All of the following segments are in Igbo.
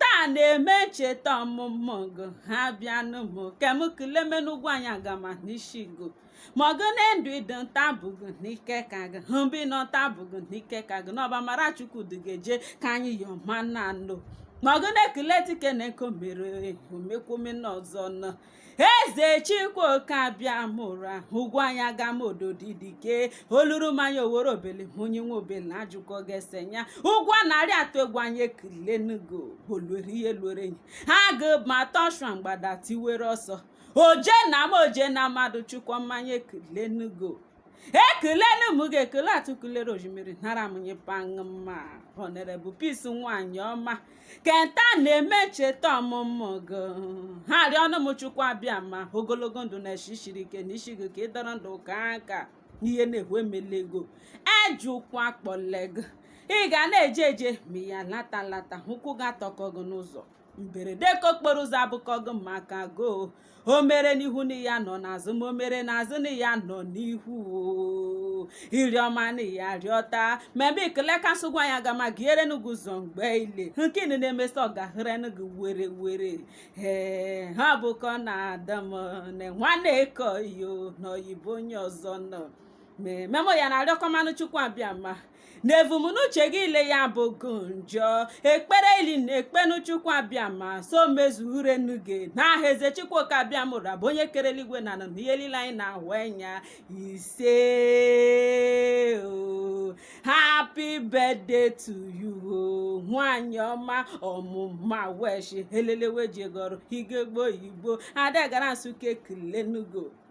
taa na-eme ncheta ọmụmụ gị ha bịanụ m ke m kelemenu ugwuanyị agama n'isi gị ma ọgụ na ndụ ịdị nta bụgụ n'ike ka gị hụbi na nta bụgụ n'ike ka gị n'ọba mara chukwu dịgeje ka anyị yọma na anụ ma ọgụ na-ekele dike na nke o mere o mekwome n'ọzọ nọ eze chukwu oke abịamụra ugwuanyị agama odo didike oluru mmanya owere obele onye nwe obele na ajụkọ gị ese ya ugwu a na-arị atụ egwu anyị ekelenugo oluere ihe luere enyi agụ bata ọshịa mgbada tiwere ọsọ oje na mmụọ oje na mmadụ chukwu m anyị ekelenugo ekelenu m gị ekele atụkulere oshimiri nara m nye pangma honorable peace nwanyị ọma ke nta na-eme ncheta ọmụmụ gị ha arịọnụ m chukwu abịama ogologo ndụ na eshi shiri ike n'ishi gị ka ị dọrọ ndụ ka aka n'ihe na-ekwu emela ego ejụkwa kpọle gị ị ga na-eje eje ma ya alata alata ụkwụ ga-atọkọ gị n'ụzọ mberede ke okporo ụzọ abụkọgo m maka goo o mere n'ihu na ị ya-anọ n'azụ ma o mere n'azụ na ị ya-anọ n'ihu oo. iriọma na ya rịọta ma ebe ikele ka ugwuanyị agama gaherenu gị ụzọ mgbe ile nke ị na-emesi ọ gaherenu gị werewere ee ha bụkọ na ada m na nwanne eko yo na oyibo onye ọzọ nọ ma ememo ya na-arịọkọmanụ chukwu abịama n'evumnuche gị ile ya abụgụ njọ ekpere ile ị na-ekpenu chukwu abịama so mezuerenu gị n'aha eze chukwu oke abịamụra bụ onye kere eluigwe na anị na ihe niile anyị na-ahụ anya ise o happy birthday to you o nwanyị ọma ọmụma awụ eshi elelewe ejegụ ọrụ ugegbe igbo ada gara nsụka ekelenugo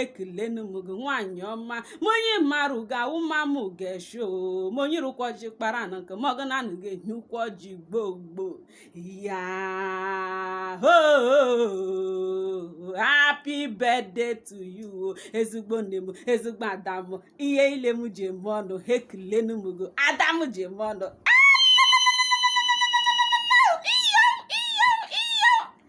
ekelenu m gị nwaanyị ọma ma onye marụ ga-awụ ma mụ ga-esho ma onye rụkwọ ji kpara na nke mọgụ na anụ ga-enye ụkwọ ji gboo gboo ya hoo happy birthday to you ezigbo nne m ezigbo ada m ihe ile m ji eme ọnụ ha ekelenu m gị ada m ji eme ọnụ